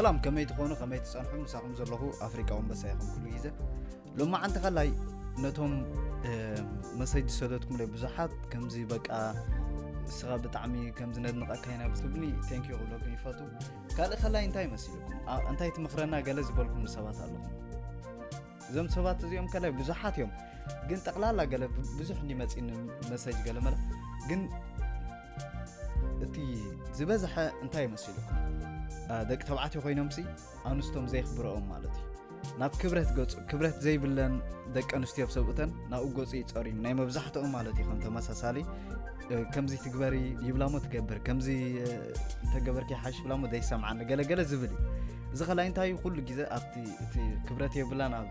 ሰላም ከመይ ትኾኑ ከመይ ትጸንሑ ምሳኹም ዘለኹ ኣፍሪቃ ወንበሳ ይኹም ኩሉ ግዜ ሎማዓንቲ ከላይ ነቶም መሰጅ ዝሰደትኩም ለ ብዙሓት ከምዚ በቃ እስኻ ብጣዕሚ ከምዚ ነድንቐካ ኢና ብትብኒ ቴንኪዩ ክብለኩም ይፈቱ ካልእ ከላይ እንታይ መሲልኩም እንታይ ትምክረና ገለ ዝበልኩም ሰባት ኣለኹም እዞም ሰባት እዚኦም ከላይ ብዙሓት እዮም ግን ጠቕላላ ገለ ብዙሕ እንዲመፂኒ መሰጅ ገለ መለ ግን እቲ ዝበዝሐ እንታይ መሲሉኩም ደቂ ተባዕትዮ ኮይኖም ሲ ኣንስቶም ዘየኽብረኦም ማለት እዩ ናብ ክብረት ገፁ ክብረት ዘይብለን ደቂ ኣንስትዮ ብ ሰብኡተን ናብኡ ገፁ ይፀርዩ ናይ መብዛሕትኦም ማለት እዩ ከም ተመሳሳሊ ከምዚ ትግበሪ ይብላሞ ትገብር ከምዚ ተገበርኪ ሓሽ ብላሞ ዘይሰምዓኒ ገለገለ ዝብል እዩ እዚ ከላይ እንታይ ኩሉ ግዜ ኣብቲ ክብረት የብላን ኣብ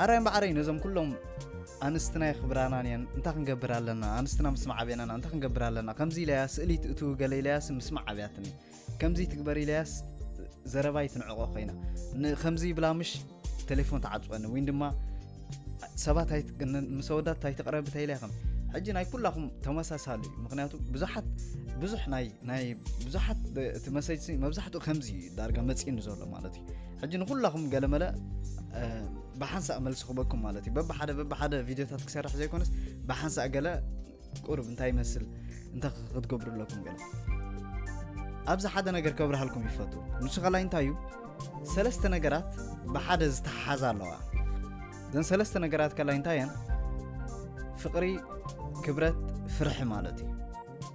ዓራይ እምበዓረይ ነዞም ኩሎም ኣንስትና የኽብራናን እየን እንታይ ክንገብር ኣለና ኣንስትና ምስማዕ ዓብናና እንታይ ክንገብር ኣለና ከምዚ ኢለያ ስእሊ ትእትው ገለ ኢለያስ ምስማዕ ዓብያትኒ ከምዚ ትግበር ኢለያስ ዘረባይ ትንዕቆ ኮይና ከምዚ ይብላ ምሽ ቴሌፎን ተዓፅወኒ ወይ ድማ ሰባት ምስ ኣወዳት ኣይትቕረብ እንታይ ኢለያ ከም ሕጂ ናይ ኩላኹም ተመሳሳሊ እዩ ምክንያቱ ብዙሓት ብዙሕ ናይ ናይ ብዙሓት እቲ መሰጅ መብዛሕትኡ ከምዚ እዩ ዳርጋ መፅእኒ ዘሎ ማለት እዩ ሕጂ ንኩላኹም ገለመለ ብሓንሳእ መልሲ ክበኩም ማለት እዩ በብሓደ በብሓደ ቪድዮታት ክሰርሕ ዘይኮነስ ብሓንሳእ ገለ ቁርብ እንታይ ይመስል እንተ ክትገብሩ ኣለኩም ገለ ኣብዚ ሓደ ነገር ከብርሃልኩም ይፈቱ ንሱ ከላይ እንታይ እዩ ሰለስተ ነገራት ብሓደ ዝተሓሓዛ ኣለዋ እዘን ሰለስተ ነገራት ከላይ እንታይ እየን ፍቕሪ ክብረት ፍርሒ ማለት እዩ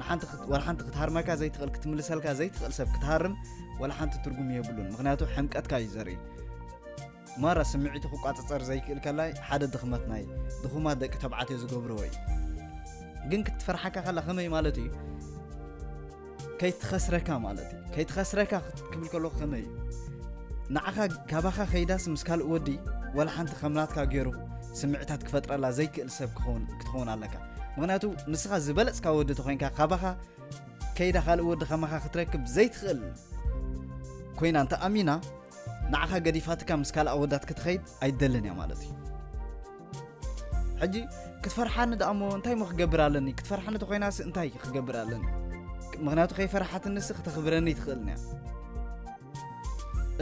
ንሓንቲ ክት- ዋላ ሓንቲ ክትሃርመካ ዘይትኽእል ክትምልሰልካ ዘይትኽእል ሰብ ክትሃርም ዋላ ሓንቲ ትርጉም የብሉን ምክንያቱ ሕምቀትካ እዩ ዘርኢ ማራ ስምዒቱ ክቋፀፀር ዘይክእል ከላይ ሓደ ድኽመት ናይ ድኹማት ደቂ ተባዕትዮ ዝገብርዎ እዩ ግን ክትፈርሓካ ከላ ከመይ ማለት እዩ ከይትኸስረካ ማለት እዩ ከይትኸስረካ ክት- ክብል ከለኹ ከመይ እዩ ንዓኻ ካባኻ ከይዳስ ምስ ካልእ ወዲ ዋላ ሓንቲ ከምናትካ ገይሩ ስምዒታት ክፈጥረላ ዘይክእል ሰብ ክኸውን- ክትኸውን ኣለካ ምክንያቱ ንስኻ ዝበለጽካ ወዲ ተኮይንካ ካባኻ ከይዳ ካልእ ወዲ ከማኻ ክትረክብ ዘይትኽእል ኮይና እንተ ኣሚና ንዓኻ ገዲፋትካ ምስ ካልእ ኣወዳት ክትኸይድ ኣይደልን እያ ማለት እዩ ሕጂ ክትፈርሓኒ ደኣ እሞ እንታይ ሞ ክገብር ኣለኒ ክትፈርሓኒ ተኮይናሲ እንታይ ክገብር ኣለኒ ምክንያቱ ከይፈርሓትንሲ ክተኽብረኒ ትኽእልኒ እያ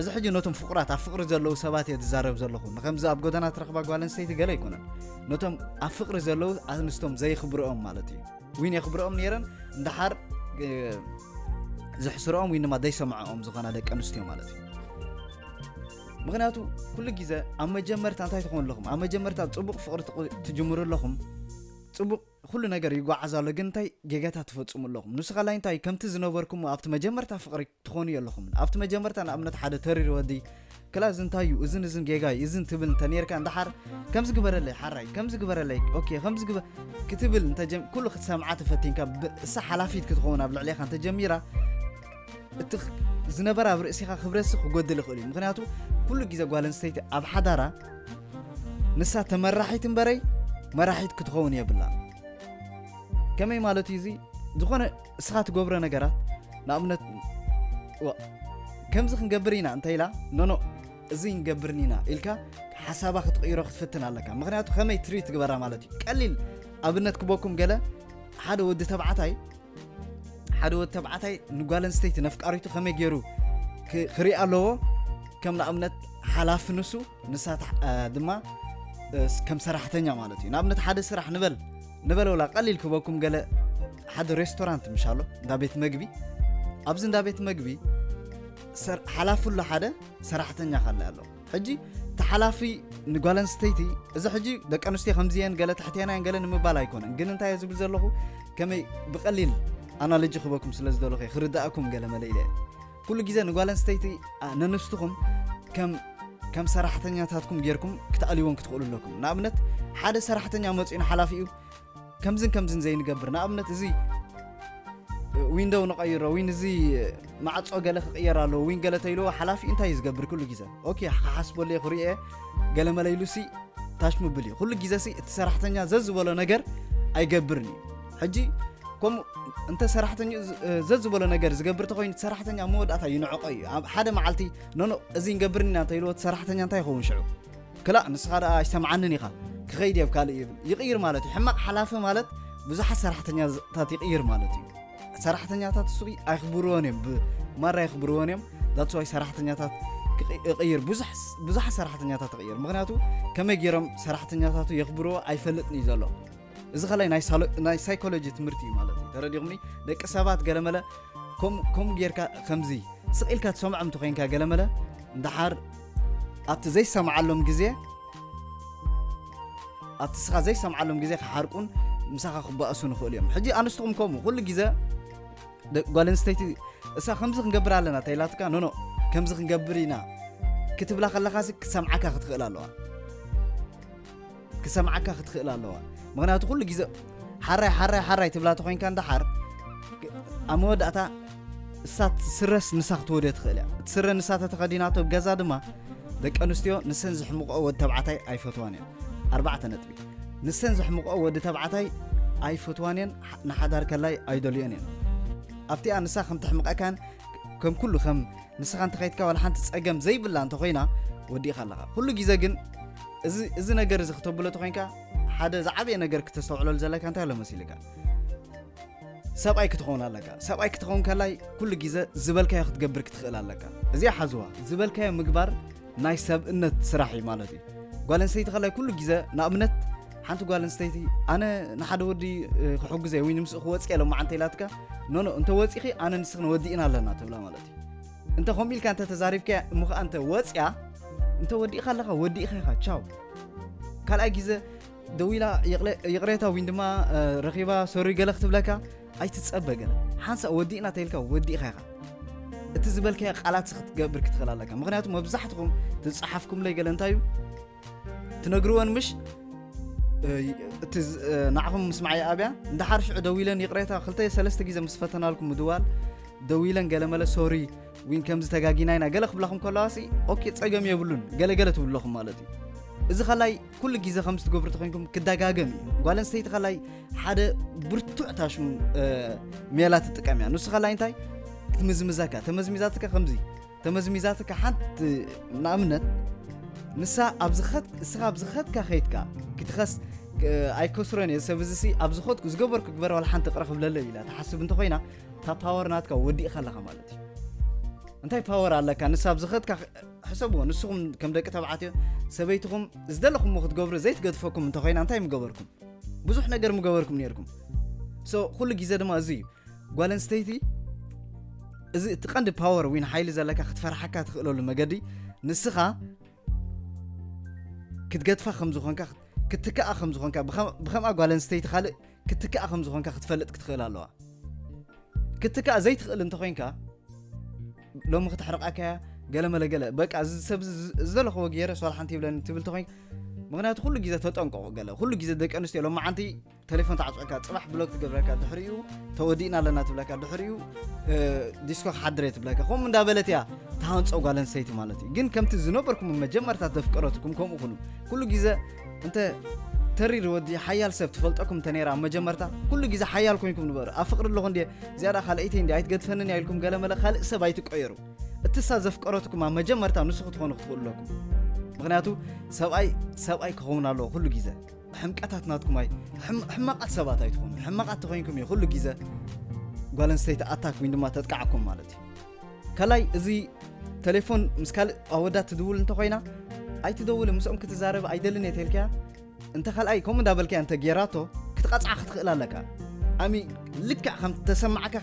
እዚ ሕጂ ነቶም ፍቑራት ኣብ ፍቕሪ ዘለዉ ሰባት እየ ዝዛረብ ዘለኹ ንከምዚ ኣብ ጎደና ትረኽባ ጓል ኣንስተይቲ ገለ ኣይኮነን ነቶም ኣብ ፍቕሪ ዘለዉ ኣንስቶም ዘይኽብርኦም ማለት እዩ ዊን የኽብርኦም ነይረን እንዳሓር ዘሕስርኦም ወይ ድማ ዘይሰምዐኦም ዝኾና ደቂ ኣንስትዮ ማለት እዩ ምክንያቱ ኩሉ ግዜ ኣብ መጀመርታ እንታይ ትኾኑ ኣለኹም ኣብ መጀመርታ ፅቡቕ ፍቕሪ ትጅምሩ ኣለኹም ፅቡቕ ኩሉ ነገር ይጓዓዝ ኣሎ ግን እንታይ ጌጋታት ትፈፅሙ ኣለኹም ንስኻ ላይ እንታይ ከምቲ ዝነበርኩሞ ኣብቲ መጀመርታ ፍቕሪ ትኾኑ የለኹምን ኣብቲ መጀመርታ ንኣብነት ሓደ ተሪር ወዲ ክላ እዚ እንታይ እዩ እዝን እዝን ጌጋ እዩ እዝን ትብል እንተነርካ እንድሓር ከምዚ ግበረለይ ሓራይ ከምዚ ግበረለይ ኦኬ ከምዚ ግበ ክትብል እንተጀም ኩሉ ክትሰምዓ ተፈቲንካ እሳ ሓላፊት ክትኸውን ኣብ ልዕሌኻ እንተጀሚራ እቲ ዝነበረ ኣብ ርእሲኻ ክብረሲ ክጎድል ይኽእል እዩ ምክንያቱ ኩሉ ግዜ ጓል ኣንስተይቲ ኣብ ሓዳራ ንሳ ተመራሒት እምበረይ መራሒት ክትኸውን የብላ ከመይ ማለት እዩ እዚ ዝኾነ እስኻ ትገብሮ ነገራት ንኣብነት ከምዚ ክንገብር ኢና እንታይ ኢላ ኖኖ እዚ ንገብርን ኢና ኢልካ ሓሳባ ክትቕይሮ ክትፍትን ኣለካ ምክንያቱ ከመይ ትሪ ትግበራ ማለት እዩ ቀሊል ኣብነት ክበኩም ገለ ሓደ ወዲ ተባዕታይ ሓደ ወዲ ተባዕታይ ንጓል ኣንስተይቲ ነፍቃሪቱ ከመይ ገይሩ ክርኢ ኣለዎ ከም ንኣብነት ሓላፊ ንሱ ንሳ ድማ ከም ሰራሕተኛ ማለት እዩ ንኣብነት ሓደ ስራሕ ንበል ንበለ ወላ ቀሊል ክበኩም ገለ ሓደ ሬስቶራንት ምሽ ኣሎ እንዳ ቤት መግቢ ኣብዚ እንዳ ቤት መግቢ ሓላፊ ኣሎ ሓደ ሰራሕተኛ ካለ ኣሎ ሕጂ ተሓላፊ ንጓል ኣንስተይቲ እዚ ሕጂ ደቂ ኣንስትዮ ከምዚየን ገለ ትሕቴና እየን ገለ ንምባል ኣይኮነን ግን እንታይ እየ ዝብል ዘለኹ ከመይ ብቐሊል ኣናሎጂ ክበኩም ስለ ዝደለኹ እየ ክርዳእኩም ገለ መለ ኢለ እየ ኩሉ ግዜ ንጓል ኣንስተይቲ ነንስትኹም ከም ከም ሰራሕተኛታትኩም ጌርኩም ክትኣልይዎን ክትኽእሉ ኣለኩም ንኣብነት ሓደ ሰራሕተኛ መፂኡ ንሓላፊኡ ከምዝን ከምዝን ዘይንገብር ንኣብነት እዚ ዊንዶው ንቐይሮ ዊን እዚ ማዕፆ ገለ ክቕየር ኣለዎ ዊን ገለ ተይልዎ ሓላፊ እንታይ እዩ ዝገብር ኩሉ ግዜ ኦኬ ክሓስበሉ እየ ክርእየ ገለ መለይሉ ሲ ታሽ ምብል እዩ ኩሉ ግዜ ሲ እቲ ሰራሕተኛ ዘዝበሎ ነገር ኣይገብርን እዩ ሕጂ ከምኡ እንተ ሰራሕተኛ ዘዝበሎ ነገር ዝገብር ተኮይኑ ሰራሕተኛ መወዳእታ ይንዕቆ እዩ ኣብ ሓደ መዓልቲ ኖኖ እዚ ንገብር ኢና እንተኢልዎ ሰራሕተኛ እንታይ ይኸውን ሽዑ ክላእ ንስኻ ደኣ ኣይሰምዓንን ኢኻ ክኸይድ እየብ ካልእ ይብል ይቕይር ማለት እዩ ሕማቕ ሓላፊ ማለት ብዙሓት ሰራሕተኛታት ይቕይር ማለት እዩ ሰራሕተኛታት እሱ ኣይክብርዎን እዮም ብማራ ኣይክብርዎን እዮም ዳትስዋይ ሰራሕተኛታት ይቕይር ብዙሓት ሰራሕተኛታት ይቕይር ምክንያቱ ከመይ ገይሮም ሰራሕተኛታቱ የኽብርዎ ኣይፈልጥን እዩ ዘሎ እዚ ከላይ ናይ ሳይኮሎጂ ትምህርቲ እዩ ማለት እዩ ተረዲኹምኒ ደቂ ሰባት ገለመለ ከምኡ ጌርካ ከምዚ ስቕ ኢልካ ትሰምዖም እንተኮይንካ ገለመለ እንዳሓር ኣብቲ ዘይሰምዓሎም ግዜ ኣብቲ ስኻ ዘይሰምዓሎም ግዜ ክሓርቁን ምሳኻ ክባእሱ ንኽእሉ እዮም ሕጂ ኣንስትኹም ከምኡ ኩሉ ግዜ ጓል ኣንስተይቲ እሳ ከምዚ ክንገብር ኣለና ተይላትካ ኖኖ ከምዚ ክንገብር ኢና ክትብላ ከለኻሲ ክትሰምዓካ ክትኽእል ኣለዋ ክሰምዓካ ክትክእል ኣለዋ ምክንያቱ ኩሉ ግዜ ሓራይ ሓራይ ሓራይ ትብላ ተኮይንካ እንዳሓር ኣብ መወዳእታ እሳ ስረስ ንሳ ክትወድዮ ትኽእል እያ እቲ ስረ ንሳ ተተኸዲናቶ ኣብ ገዛ ድማ ደቂ ኣንስትዮ ንሰን ዝሕምቆ ወዲ ተባዕታይ ኣይፈትዋን እየን ኣርባዕተ ነጥቢ ንሰን ዘሕምቆ ወዲ ተባዕታይ ኣይፈትዋን እየን ንሓዳር ከላይ ኣይደልዮን እየን ኣብቲኣ ንሳ ከም ተሕምቀካን ከም ኩሉ ከም ንስኻ እንተኸይትካ ዋላ ሓንቲ ጸገም ዘይብላ እንተኾይና ወዲእኻ ኣለኻ ኩሉ ግዜ ግን እዚ ነገር እዚ ክተብሎ ተኮይንካ ሓደ ዝዓበየ ነገር ክተስተውዕለሉ ዘለካ እንታይ ኣሎ መሲልካ ሰብኣይ ክትኸውን ኣለካ ሰብኣይ ክትኸውን ከላይ ኩሉ ግዜ ዝበልካዮ ክትገብር ክትኽእል ኣለካ እዚኣ ሓዝዋ ዝበልካዮ ምግባር ናይ ሰብእነት ስራሕ እዩ ማለት እዩ ጓል ኣንስተይቲ ከላይ ኩሉ ግዜ ንኣብነት ሓንቲ ጓል ኣንስተይቲ ኣነ ንሓደ ወዲ ክሕግዘ ወይ ንምስኡ ክወፅእ የለ መዓንተ ኢላትካ ኖኖ እንተ ወፂኺ ኣነ ንስኺ ንወዲእና ኣለና ትብላ ማለት እዩ እንተ ከምኡ ኢልካ እንተ ተዛሪብካ እሞ ከዓ እንተ ወፅያ እንተ ወዲእካ ኣለካ ወዲእካ ኢኻ ቻው ካልኣይ ግዜ ደዊላ ይቕሬታ ወይ ድማ ረኺባ ሶሪ ገለ ክትብለካ ኣይትጸበ ገለ ሓንሳእ ወዲእና ተይልካ ወዲእኻ ኢኻ እቲ ዝበልካዮ ቃላት ክትገብር ክትኽእል ኣለካ ምክንያቱ መብዛሕትኹም ትፀሓፍኩምለይ ገለ እንታይ እዩ ትነግርወን ምሽ እቲ ንዓኹም ምስ መዓይ ኣብያ እንድሓር ሽዑ ደው ኢለን ይቕሬታ ክልተ ሰለስተ ግዜ ምስ ፈተናልኩም ምድዋል ደው ኢለን ገለ መለ ሶሪ ዊን ከምዚ ተጋጊና ኢና ገለ ክብላኹም ከለዋ ሲ ኦኬ ፀገም የብሉን ገለገለ ትብለኹም ማለት እዩ እዚ ከላይ ኩሉ ግዜ ከም ዝትገብሩ ተኮንኩም ክደጋገም እዩ ጓል ኣንስተይቲ ካላይ ሓደ ብርቱዕ ታሽሙ ሜላ ትጥቀም እያ ንሱ ካላይ እንታይ ትምዝምዛካ ተመዝሚዛትካ ከምዚ ተመዝሚዛትካ ሓንቲ ንኣብነት ንሳ እስኻ ኣብ ዝኸትካ ከይትካ ክትኸስ ኣይከስሮን እየ ሰብ እዚ ኣብ ዝኸትኩ ዝገበርኩ ግበረ ዋላ ሓንቲ ቅረ ክብለለ ኢላ ትሓስብ እንተኮይና እታ ፓወር ናትካ ወዲእካ ኣለካ ማለት እዩ እንታይ ፓወር ኣለካ ንሳ ኣብ ዝኸትካ ሕሰብዎ ንስኹም ከም ደቂ ተባዕትዮ ሰበይትኹም ዝደለኹምዎ ክትገብሩ ዘይትገድፈኩም እንተኮይና እንታይ ምገበርኩም ብዙሕ ነገር ምገበርኩም ነርኩም ሶ ኩሉ ግዜ ድማ እዚ እዩ ጓል ኣንስተይቲ እዚ እቲ ቀንዲ ፓወር ዊን ሓይሊ ዘለካ ክትፈርሓካ ትኽእለሉ መገዲ ንስኻ ክትገድፋ ከም ዝኾንካ ክትከኣ ከም ዝኾንካ ብከምኣ ጓል ኣንስተይቲ ካልእ ክትክኣ ከም ዝኾንካ ክትፈልጥ ክትኽእል ኣለዋ ክትክኣ ዘይትኽእል እንተኮይንካ ሎሚ ክተሕርቃካያ ገለ መለ ገለ በቃ እዚ ሰብ ዝደለኽዎ ገይረ ሶላ ሓንቲ ይብለኒ ትብል ተኮይንካ ምክንያቱ ኩሉ ግዜ ተጠንቀቑ ገለ ኩሉ ግዜ ደቂ ኣንስትዮ ሎሚ ዓንቲ ቴሌፎን ተዓፅዕካ ፅባሕ ብሎክ ትገብረካ ድሕሪኡ ተወዲእና ኣለና ትብለካ ድሕሪኡ ዲስኮ ክሓድረ ትብለካ ከምኡ እንዳበለት እያ ተሃንፆ ጓል ኣንስተይቲ ማለት እዩ ግን ከምቲ ዝነበርኩም መጀመርታ ተፍቀረትኩም ከምኡ ኩኑ ኩሉ ግዜ እንተ ተሪር ወዲ ሓያል ሰብ ትፈልጠኩም እንተ ነይራ መጀመርታ ኩሉ ግዜ ሓያል ኮንኩም ንበሩ ኣብ ፍቅሪ ኣለኹ እንዲ ዝያዳ ካልኣይተይ እንዲ ኣይትገድፈንን እያ ኢልኩም ገለመለ ካልእ ሰብ ኣይትቀየሩ እትሳ ዘፍቀረትኩም ኣብ መጀመርታ ንሱ ክትኾኑ ክትኽእሉ ኣለኩም ምክንያቱ ሰብኣይ ሰብኣይ ክኸውን ኣለዎ ኩሉ ግዜ ሕምቀታት ናትኩም ኣይ ሕማቃት ሰባት ኣይትኾኑ ሕማቃት ተኮይንኩም እዩ ኩሉ ግዜ ጓል ኣንስተይቲ ኣታክ ወይ ድማ ተጥቃዓኩም ማለት እዩ ካልኣይ እዚ ተሌፎን ምስ ካልእ ኣወዳት ትድውል እንተኾይና ኣይትደውልን ምስኦም ክትዛረብ ኣይደልን እየ ተልካያ እንተ ካልኣይ ከምኡ እንዳበልካያ እንተ ጌራቶ ክትቐፅዓ ክትኽእል ኣለካ ኣሚ ልክዕ ከም ተሰማዕካ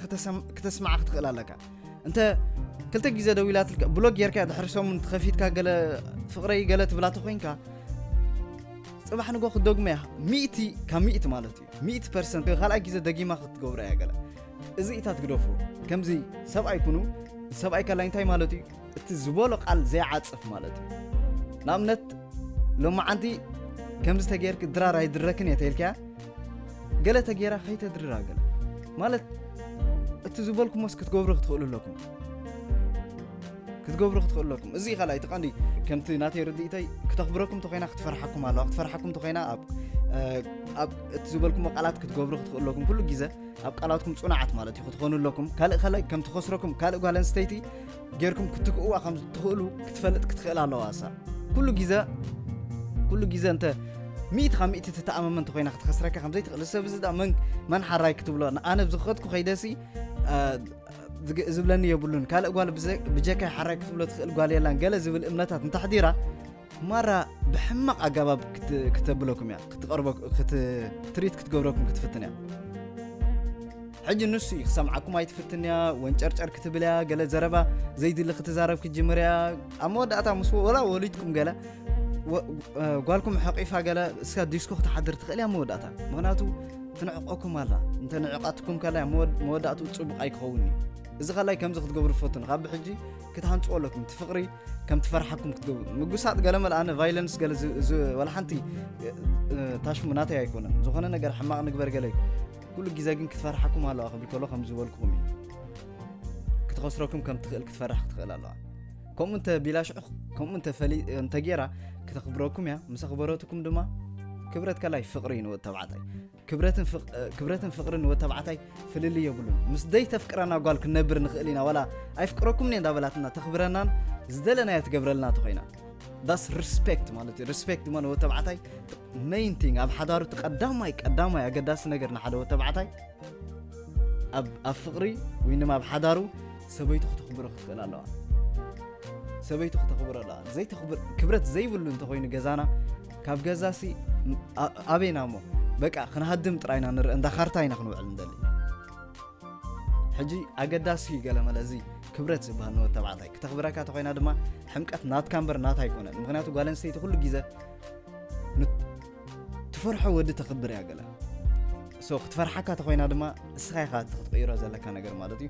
ክተስማዓ ክትኽእል ኣለካ እንተ ክልተ ግዜ ደዊላትልካ ብሎግ ጌርካ ድሕሪ ሰሙን ተኸፊትካ ገለ ፍቕረይ ገለ ትብላ ተኮይንካ ፅባሕ ንጎ ክትደግሞ እያ ሚእቲ ካብ ሚእቲ ማለት እዩ ሚእቲ ፐርሰንት ካልኣይ ግዜ ደጊማ ክትገብሮ እያ ገለ እዚ ኢታት ግደፉ ከምዚ ሰብኣይ ኩኑ ሰብኣይ ከላይ እንታይ ማለት እዩ እቲ ዝበሎ ቃል ዘይዓፅፍ ማለት እዩ ንኣብነት ሎማዓንቲ ከምዚ ተገይርክ ድራር ኣይድረክን እየ ተይልካያ ገለ ተገይራ ከይተድርራ ገለ ማለት እቲ ዝበልኩሞስ ክትገብሩ ክትኽእሉ ኣለኩም ክትገብሩ ክትኽእሉ ኣለኩም እዚ ካልኣ እቲ ቀንዲ ከምቲ ናተይ ርድኢተይ ክተኽብረኩም ተኮይና ክትፈርሓኩም ኣለዋ ክትፈርሓኩም ተኮይና ኣብ ኣብ እቲ ዝበልኩሞ ቃላት ክትገብሩ ክትኽእሉ ኣለኩም ኩሉ ግዜ ኣብ ቃላትኩም ፅኑዓት ማለት እዩ ክትኾኑ ኣለኩም ካልእ ካልእ ከም ትኸስረኩም ካልእ ጓል ኣንስተይቲ ጌርኩም ክትክእዋ ከም ትኽእሉ ክትፈልጥ ክትኽእል ኣለዋ እሳ ኩሉ ግዜ ኩሉ ግዜ እንተ ሚእቲ ካብ ሚእቲ ትተኣማመን እንተኮይና ክትኸስረካ ከምዘይትኽእል ሰብ እዚ ዳ መን መን ሓራይ ክትብሎ ኣነ ብዝኸትኩ ከይደሲ ዝብለኒ የብሉን ካልእ ጓል ብጀካይ ሓራይ ክትብሎ ትኽእል ጓል የላን ገለ ዝብል እምነታት እንተሕዲራ ማራ ብሕማቕ ኣገባብ ክተብለኩም እያ ክትሪት ክትገብረኩም ክትፍትን እያ ሕጂ ንሱ እዩ ክሰምዓኩም ኣይትፍትን እያ ወንጨርጨር ክትብል እያ ገለ ዘረባ ዘይድሊ ክትዛረብ ክትጅምር እያ ኣብ መወዳእታ ምስ ወላ ወሊድኩም ገለ ጓልኩም ሓቂፋ ገለ እስካ ዲስኮ ክትሓድር ትኽእል እያ መወዳእታ ምክንያቱ ትንዕቀኩም ኣላ እንተ ንዕቃትኩም ከላይ መወዳእቱ ፅቡቅ ኣይክኸውን እዩ እዚ ከላይ ከምዚ ክትገብሩ ፈቱን ካብ ብሕጂ ክትሃንፅዎ ኣለኩም እቲ ፍቅሪ ከም ትፈርሓኩም ክትገብሩ ምጉሳጥ ገለ መልኣነ ቫይለንስ ገለ ወላ ሓንቲ ታሽሙ ናተይ ኣይኮነን ዝኾነ ነገር ሕማቕ ንግበር ገለ እዩ ኩሉ ግዜ ግን ክትፈርሓኩም ኣለዋ ክብል ከሎ ከም ዝበልኩኹም እዩ ክትኸስረኩም ከም ትኽእል ክትፈርሕ ክትኽእል ኣለዋ ከምኡ እንተ ቢላ ሽዑ ከምኡ እንተ ፈሊ እንተ ጌራ ክተኽብረኩም እያ ምስ ኣኽበረትኩም ድማ ክብረት ከላይ ፍቕሪ እዩ ንወድ ተባዕታይ ክብረትን ፍቕሪ ንወድ ተባዕታይ ፍልል የብሉን ምስ ደይ ተፍቅረና ጓል ክንነብር ንኽእል ኢና ዋላ ኣይፍቅረኩምኒ እንዳበላትና ተኽብረናን ዝደለናዮ ትገብረልና ተኮይና ዳስ ሪስፔክት ማለት እዩ ሪስፔክት ድማ ንወድ ተባዕታይ መይን ቲንግ ኣብ ሓዳሩ እቲ ቀዳማይ ቀዳማይ ኣገዳሲ ነገር ንሓደ ወድ ተባዕታይ ኣብ ፍቕሪ ወይ ድማ ኣብ ሓዳሩ ሰበይቱ ክተኽብሮ ክትኽእል ኣለዋ ሰበይቱ ክተኽብሮ ኣለዋ ዘይተኽብር ክብረት ዘይብሉ እንተኮይኑ ገዛና ካብ ገዛሲ ኣበይና እሞ በቃ ክንሃድም ጥራይና ንርኢ እንዳ ካርታ ኢና ክንውዕል ንደሊ ሕጂ ኣገዳሲ እዩ ገለ መለ እዚ ክብረት ዝበሃል ንወድ ተባዕታይ ክተኽብረካ ተኮይና ድማ ሕምቀት ናትካ እምበር ናታ ኣይኮነን ምክንያቱ ጓል ኣንስተይቲ ኩሉ ግዜ ትፈርሖ ወዲ ተኽብር እያ ገለ ሶ ክትፈርሓካ ተኮይና ድማ እስኻ ኢኻ እቲ ክትቅይሮ ዘለካ ነገር ማለት እዩ